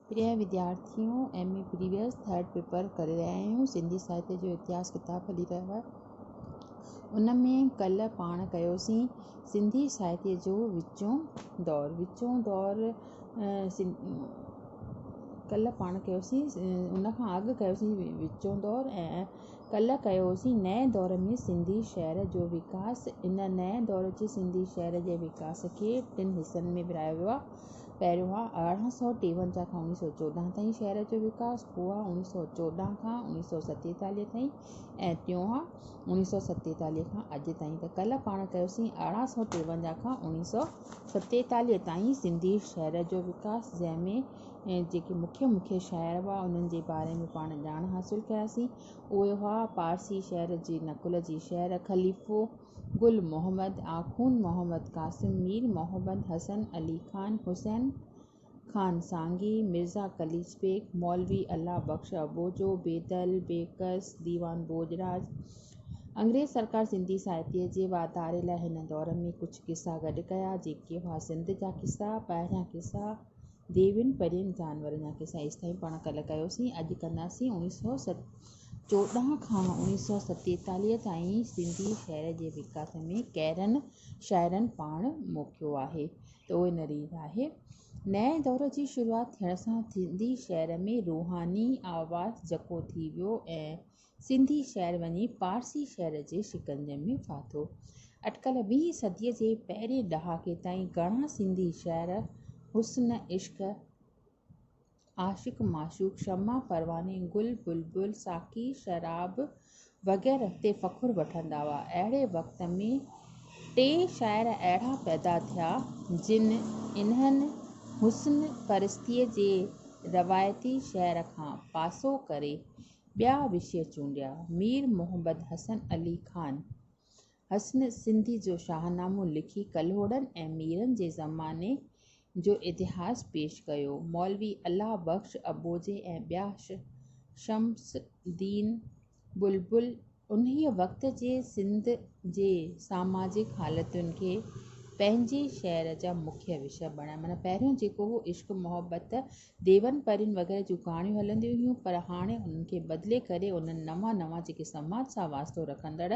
پريائين وديارٿيون M A previous third paper ڪري رهيا آهيون سنڌي ساهتيه جو اتهاس ڪتاب هلي رهيو آهي ان ۾ ڪلهه پاڻ ڪيوسين سنڌي ساهتيه جو وچون دور وچون دور ڪلهه پاڻ ڪيوسين ان کان اڳ ڪيوسين وچون دور ۽ ڪلهه ڪيوسين نئين دور ۾ سنڌي شعر جو وڪاس ان نئين دور جي سنڌي شعر جي وڪاس کي ٽن حصن ۾ ورهايو ويو آهي پهريون آهي ارڙهن سؤ ٽيونجاهه کان اڻيهه سؤ چوڏهن تائين شهر جو وڪاس، پوء آهي اڻيهه سؤ چوڏهن کان اڻيهه سؤ ستيتاليهه تائين ۽ ٽيون آهي اڻيهه سؤ ستيتاليهه کان اڄ تائين ته ڪلهه پاڻ ڪيوسين ارڙهن سؤ ٽيونجاهه کان اڻيهه سؤ ستيتاليهه تائين سنڌي شهر جو وڪاس جنهن ۾ جيڪي مکيه مکيه شهر هئا انهن جي باري ۾ پاڻ ڄاڻ حاصل ڪياسين اهي هئا پارسي شهر جي نقل جي شهر خليفو، گل محمد آخوند محمد قاسم مير محمد حسن علي خان حسين خان سانگي مرزا قليچ بيگ مولوي الله بخش اٻوجهو بيدل بيڪس ديوان ڀوڄراج انگريز سرڪار سنڌي ساهتيه جي واڌاري لاء هن دور ۾ ڪجهه قصا گڏ ڪيا جيڪي هئا سنڌ جا قصا ٻاهريان قصا ديوين پرين جانورن جا قصا ايستائين پاڻ ڪلهه ڪيوسين اڄ ڪنداسين 1970 چوڏهن کان اڻيهه سؤ ستيتاليهه تائين سنڌي شعر جي وڪاس ۾ ڪيرن شاعرن پاڻ موکيو آهي ته اهي نرير آهي. نئين دور جي شروعات ٿيڻ سان سنڌي شعر ۾ روحاني آواز جڪو ٿي ويو ۽ سنڌي شعر وڃي پارسي شعر جي شڪنجي ۾ ڦاٿو. اٽڪل ويهين صديء جي پهرين ڏهاڪي تائين گهڻا سنڌي شعر حسن عشق، عاشق معشوق، شمع پرواني، گل بلبل، ساقي شراب وغيره تي فخر وٺندا هئا. اهڙي وقت ۾ ٽي شاعر اهڙا پيدا ٿيا جن انهن حسن پرستيء جي روايتي شعر کان پاسو ڪري ٻيا وشي چونڊيا، مير محمد حسن علي خان. حسن سنڌي جو شاهنامو لکي ڪلهوڙن ۽ ميرن جي زماني جو اتهاس پيش ڪيو. مولوي الله بخش اٻوجهي ۽ ٻيا شمس الدين بلبل انهيء وقت جي سنڌ جي ساماجڪ حالتن کي پنهنجي شعر جا مکيه وشا بڻايا. معنيٰ پهريون جيڪو هو عشق محبت ديون پرين وغيره جون ڪهاڻيون هلنديون هيون پر هاڻي انهن کي بدلي ڪري انهن نوان نوان جيڪي سماج سان واسطو رکندڙ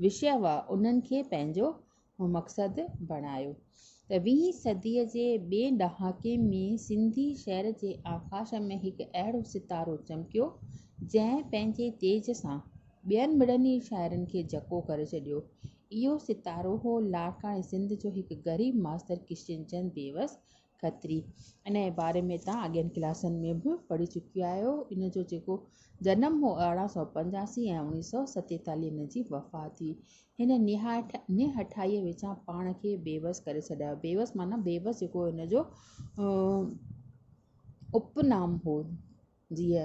وشي هئا انهن کي پنهنجو مقصد بڻايو ته ويهين صدي جي ٻئي ڏهاڪي ۾ سنڌي شعر جي آڪاش ۾ هڪ اهڙو ستارو چمڪيو جنهن پنهنجي تيج سان ٻين مڙني شاعرن کي جهڪو ڪري ڇڏيو اهو ستارو هو لاڙڪاڻي سنڌ جو هڪ غريب ماستر ڪشن چند بيوس کتري انهيء باري ۾ توهان اڳين ڪلاسن ۾ به پڙهي چڪي آهيو. ان جو جيڪو جنم هو ارڙهن سؤ پنجاسي ۽ اڻويهه سؤ ستيتاليهه هن جي وفات ٿي. هن نهايت نهٺائيء وچان پاڻ کي بيوس ڪري ڇڏايو. بيوس معنيٰ بيوس جيڪو هن جو اپ نام هو. جيء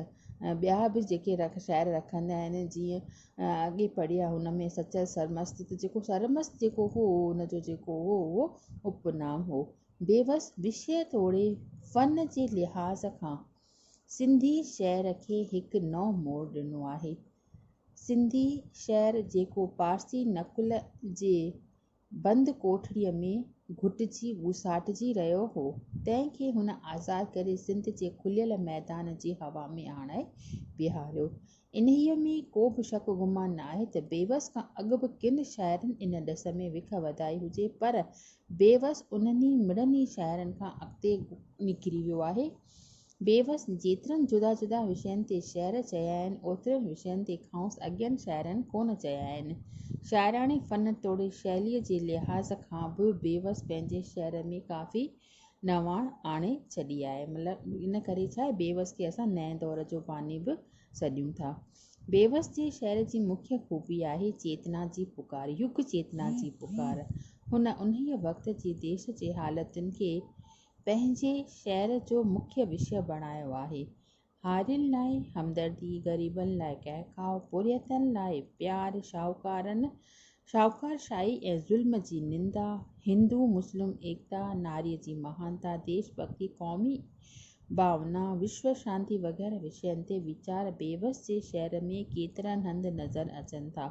۽ ٻيا به جيڪي شاعر رکندا آهن جيئن اڳي پڙهيا هن ۾ سچل سرمست ته جيڪو سرمست جيڪو هو ان جو جيڪو هو اهو اپنام هو بيوس وشيه توڙي فن جي لحاظ کان سنڌي شعر کي هڪ نئون موڙ ڏنو آهي سنڌي شعر جيڪو پارسي نقل جي بند ڪوٺڙيء ۾ گهٽجي ٻوساٽجي رهيو هو، تنهن کي هن آزاد ڪري سنڌ جي کليل ميدان جي هوا ۾ آڻائي بيهاريو. انهيء ۾ ڪو به شڪ گمان ناهي ته بيوس کان اڳ به ڪن شاعرن ان ڏس ۾ وک وڌائي هجي پر بيوس انهن ئي مڙني شاعرن کان اڳتي نڪري ويو آهي، بيوس جيترن جدا جدا وشين تي شعر چيا آهن، اوترن وشين تي کانئس اڳين شاعرن ڪونه چيا آهن. شاعراڻي فن توڙي شيليء جي لحاظ کان به بيوس پنهنجي شعر ۾ ڪافي نواڻ آڻي ڇڏي آهي. مطلب ان ڪري ڇا بيوس کي اسان نئين دور جو باني به سڏيون ٿا. بيوس جي شعر جي مکيه خوبي آهي چيتنا جي پڪار، يگ چيتنا جي پڪار. هن انهيء وقت جي ديس جي حالتن کي پنهنجي شعر جو مکيه وشيه بڻايو آهي. هارين لاء همدردي، غريبن لاء ڪهڪاء، پورهيتن لاء پيار، شاهوڪارن، شاهوڪارشاهي ۽ ظلم جي نندا، هندو مسلم ايڪتا، ناري جي مهانتا، ديش ڀڳتي، قومي ڀاونا، وشو شانتي وغيره وشين تي ويچار بيوس جي شعر ۾ ڪيترن هنڌ نظر اچن ٿا.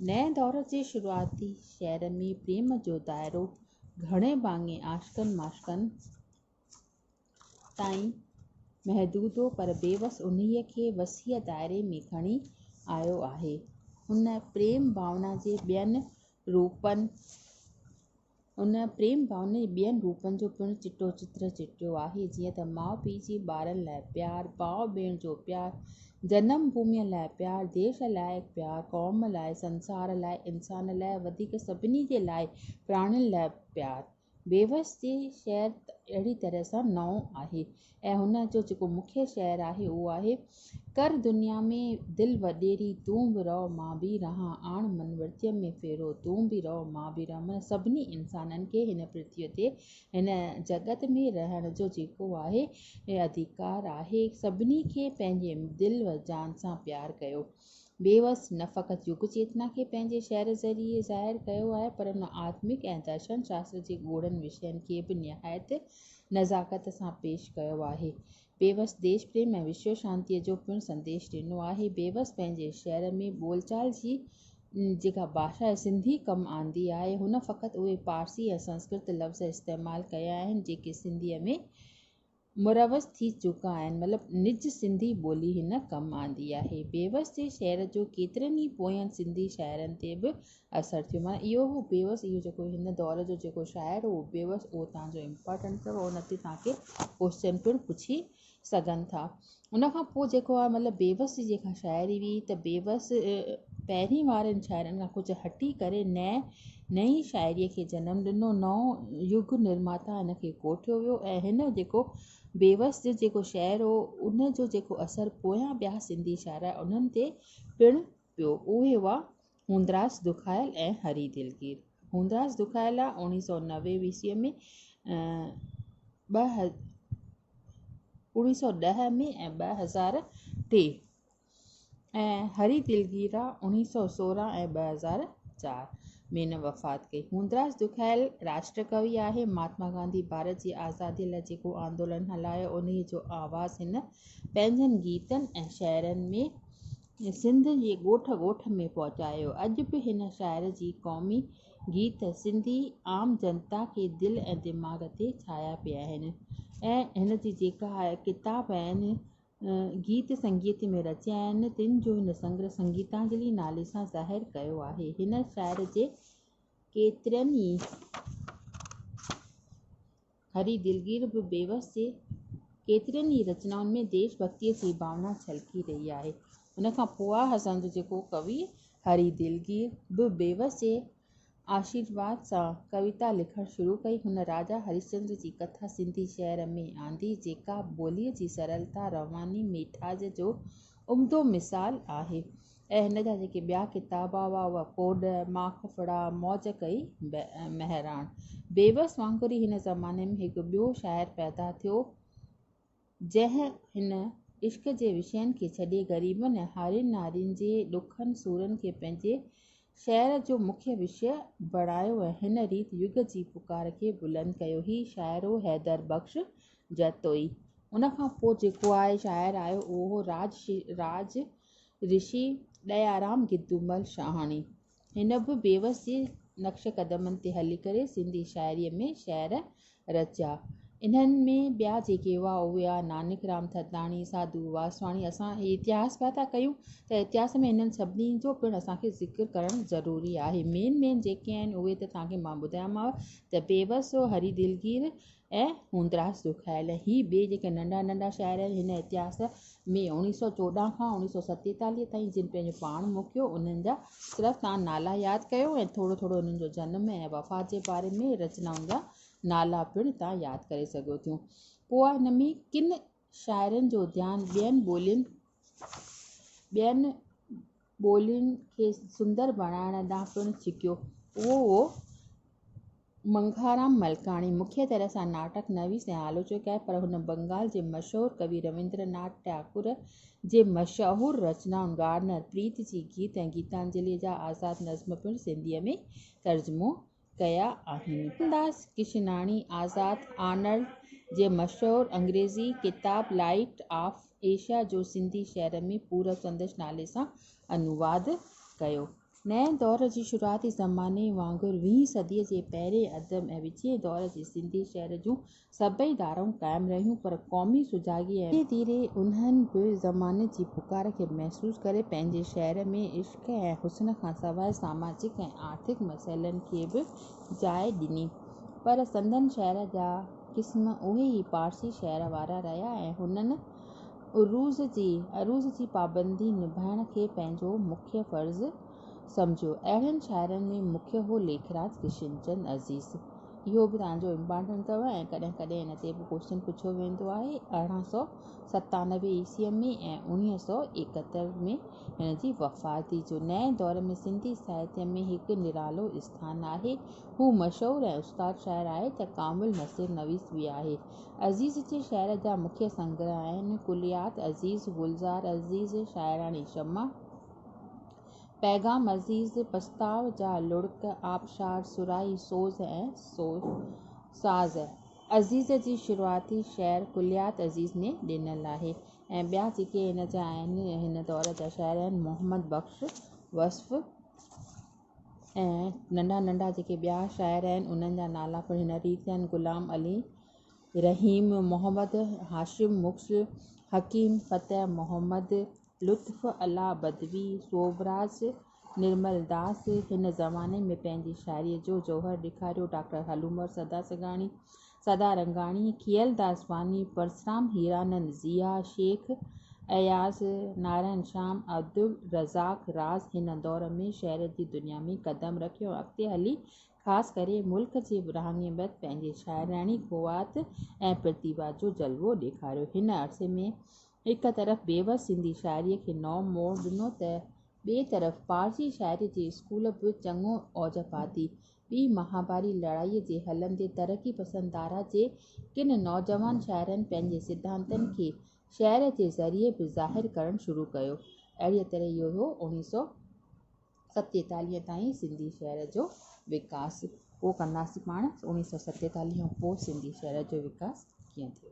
نئين دور جي شروعاتي شعر ۾ پريم جو دائرو، گهڻي ڀاڱي عاشقن معشوقن تائين محدود هو پر بيوس انهيء کي وسيع دائري ۾ کڻي آيو آهي. ان پريم ڀاونا جي ٻين روپن ان پريم ڀاونا جي ٻين روپن جو پڻ چٽو چتر چٽيو آهي جيئن ته ماء پيء جي ٻارن لاء پيار، ڀاء ڀيڻ جو پيار، جنم ڀوميء لاء پيار، ديس لاء پيار، قوم لاء، سنسار لاء، انسان لاء ۽ وڌيڪ سڀني جي لاء پراڻين لاء پيار. بيوس جي شعر اهڙي طرح سان نئون آهي ۽ هن جو جيڪو مکيه شعر آهي اهو آهي، ڪر دنيا ۾ دل وڏيري تون به رهه مان به رهان، آڻ من ورتيء ۾ ڦيرو تون به رهه مان به رهان معنيٰ سڀني انسانن کي هن پرٿويء تي هن جڳت ۾ رهڻ جو جيڪو آهي اڌيڪار آهي سڀني کي پنهنجي دل و جان سان پيار ڪيو. بيوس نه فقط يگ چيتنا کي پنهنجي شعر ذريعي ظاهر ڪيو آهي پر ان آتمڪ ۽ درشن شاستر جي ڳوڙهن وشين کي به نهايت نزاڪت سان پيش ڪيو آهي. بيوس ديش پريم ۽ وشو شانتيء جو پڻ سنديش ڏنو آهي. بيوس پنهنجي شعر ۾ ٻول چال جي جيڪا ڀاشا سنڌي ڪم آندي آهي، هن فقط اهي پارسي ۽ سنسڪرت لفظ استعمال ڪيا آهن، جيڪي سنڌيء ۾ مروج ٿي چڪا آهن، مطلب نج سنڌي ٻولي هن ڪم آندي آهي. بيوس جي شعر جو ڪيترن ئي پوين سنڌي شاعرن تي به اثر ٿيو معنيٰ اهو هو بيوس اهو جيڪو هن دور جو جيڪو شاعر هو بيوس اهو تان جو امپارٽنٽ اٿو او نتي تان کي ڪوشچن پڻ پڇي سگهن ٿا ان کان پوء جيڪو آهي مطلب بيوس جي جيڪا شاعري هئي ته بيوس پهرين وارن شاعرن کان ڪجهه هٽي ڪري نئين نئي شاعري کي جنم ڏنو نئون يگ نرماتا هن کي ڪوٺيو ويو ۽ هن جيڪو بيوس جو جيڪو شعر هو ان جو جيڪو اثر پويان ٻيا سنڌي شاعر انهن تي پڻ پيو اهي هئا هوندراز دکايل ۽ هري دلگير. هوندراز دکايل آء اوڻيهه سؤ نوي عيسويء ۾ ۽ اوڻيهه سؤ ڏهه ۾ ۽ ٻه هزار ٽي ۽ هري دلگير آء اوڻيهه سؤ سورهن ۽ ٻه هزار چار ۾ن وفات ڪئي. هوندراز دکايل راشٽر ڪوي آهي. مهاتما گانڌي ڀارت جي آزاديء لاء جيڪو آندولن هلايو، انهيء جو آواز هن پنهنجن گيتن ۽ شعرن ۾ سنڌ جي ڳوٺ ڳوٺ ۾ پهچايو. اڄ به هن شاعر جي قومي گيت سنڌي عام جنتا کي دل ۽ دماغ تي ڇايا پيا آهن ۽ هن جي جيڪا ڪتاب ۽ گيت سنگيت ۾ رچيا آهن تن جو هن سنگرهه سنگيتانجلي نالي سان ظاهر ڪيو آهي. هن شاعر جي ڪيترن ئي. هري دلگير به بيوس جي ڪيترين ئي رچنائن ۾ ديش ڀڳتيء جي ڀاونا ڇلڪي رهي آهي. ان کان پوء اسان جو جيڪو ڪوي هري دلگير به بيوس جي آشيرواد سان ڪويتا لکڻ شروع ڪئي، هن راجا هريشچندر جي ڪٿا سنڌي شعر ۾ آندي، جيڪا ٻوليء جي سرلتا، رواني، ميٺاج جو عمدو مثال آهي. ۽ هن جا جيڪي ٻيا ڪتاب هئا اهي ڪوڏ، ماک ڦڙا، موج ڪئي مهراڻ. بيوس وانگر ئي هن زماني ۾ هڪ ٻيو شاعر پيدا ٿيو، جنهن هن عشق جي وشين کي ڇڏي غريبن ۽ هارين نارين جي ڏکن سورن کي پنهنجي شعر جو مکيه وشيه بڻايو ۽ هن ريت يگ جي پڪار کي بلند ڪيو. هي شاعر هو حيدر بخش جتوئي. ان کان پوء جيڪو آء شاعر آيو اهو هو راج رشي ڏيارام گدومل شاهاڻي، هن به بيوس جي نقش قدمن تي هلي ڪري سنڌي شاعريء ۾ شعر رچيا. انهن ۾ ٻيا جيڪي هئا اهي هئا نانڪ رام ٿڌاڻي، ساڌو واسواڻي. اسان هي اتهاس پيا ٿا ڪيون ته اتهاس ۾ انهن سڀني جو پڻ اسان کي ذڪر ڪرڻ ضروري آهي. مين مين جيڪي آهن اهي ته توهان کي مان ٻڌايامانو ته بيوس، هري دلگير، ۽ هوندراس جو خيال هي ٻئي جيڪي ننڍا ننڍا شاعر آهن هن اتهاس ۾ اوڻيهه سؤ چوڏهن کان اوڻيهه سؤ ستيتاليهه تائين جن پنهنجو پاڻ موکيو انهن جا صرف توهان نالا ياد ڪيو ۽ ٿورو ٿورو انهن جو جنم ۽ وفات جي باري ۾ رچنائن جا نالا پڻ توهان ياد ڪري سگهيو ٿيون پوء هن ۾ ڪن شاعرن جو ڌيان ٻين ٻولين ٻين ٻولين کي سندر بڻائڻ ڏانهن پڻ ڇڪيو اهو هو منگهارام ملڪاڻي مکيه طرح سان ناٽڪ نويس ۽ آلوچڪ آهي پر هن بنگال جي مشهور ڪوي رويندر ناٿ ٽئاڪور جي مشهور رچنائن گارنر پريت جي گيت ۽ گيتانجلي جا آزاد نظم پڻ سنڌيء ۾ ترجمو ڪيا آهن. ڪرشن داس ڪشناڻي آزاد آنر جي مشهور انگريزي ڪتاب لائيٽ آف ايشيا جو سنڌي شعر ۾ پورب سندس نالي سان انواد ڪيو. نئين دور جي شروعاتي زماني وانگر ويهين صديء جي پهرين اڌ ۾ وچين دور جي سنڌي شعر جون سڀئي ڌارائون قائم رهيون پر قومي سجاڳي ۽ ڌيري ڌيري انهن به زماني جي پڪار کي محسوس ڪري پنهنجي شعر ۾ عشق ۽ حسن کان سواء ساماجڪ ۽ آرٿڪ مسئلن کي به جاء ڏني پر سندن شعر جا قسم اهي ئي پارسي شعر وارا رهيا ۽ هنن عروض جي پابندي نڀائڻ کي پنهنجو مکيه فرض سمجهيو. اهڙن شاعرن ۾ مکيه هو ليکراج ڪشن چند عزيز. اهو به توهان جو امپارٽنٽ اٿو ۽ ڪڏهن ڪڏهن ان تي به ڪوشچن پڇيو ويندو آهي. ارڙهن سؤ ستانوي عيسويء ۾ ۽ اڻيهه سؤ ايڪهتر ۾ هن جي وفات ٿي جو نئين دور ۾ سنڌي ساهتيه ۾ هڪ نرالو اسٿان آهي. هو مشهور ۽ استاد شاعر آهي ته ڪامل نثر نويس به آهي. عزيز جي شعر جا مکيه سنگره آهن، ڪليات عزيز، گلزار عزيز، شاعراڻي شمع، پيغام عزيز پستاء جا لڙڪ آبشار سرائي سوز ۽ ساز عزيز جي شروعاتي شعر ڪليات عزيز ۾ ڏنل آهي ۽ ٻيا جيڪي هن جا آهن هن دور جا شاعر آهن محمد بخش وصف ۽ ننڍا ننڍا جيڪي ٻيا شاعر آهن انهن جا نالا پڻ هن ريت آهن غلام علي رحيم محمد هاشم مڪس حڪيم فتح محمد لطف الله بدوي، سوڀراج نرملداس هن زماني ۾ پنهنجي شاعريء جو جوهر ڏيکاريو، ڊاڪٽر هلعمر سدا سگاڻي، سدا رنگاڻي، کيئلداس واني، پرسرام هيرانند، ضياء شيخ، اياز، نارائڻ شام، عبدالرزاق راز هن دور ۾ شعر جي دنيا ۾ قدم رکيو ۽ اڳتي هلي خاص ڪري ملڪ جي ورهاڱي بعد پنهنجي شاعراڻي قوات ۽ پرتيڀا جو جلوو ڏيکاريو. هن عرصي ۾ هڪ طرف بيوس سنڌي شاعريء کي نئون موڙ ڏنو ته ٻئي طرف پارسي شاعريء جي اسڪول به چڱو اوج پاتي. ٻي مهاڀاري لڙائيء جي هلندي ترقي پسند ڌارا جي ڪن نوجوان شاعرن پنهنجي سڌانتن کي شعر جي ذريعي به ظاهر ڪرڻ شروع ڪيو. اهڙيء طرح اهو اڻ سؤ ستيتاليهه تائين سنڌي شعر جو وڪاس. پوء ڪنداسين پاڻ اڻ سؤ ستيتاليهه کان پوء سنڌي شعر جو وڪاس ڪيئن ٿيو.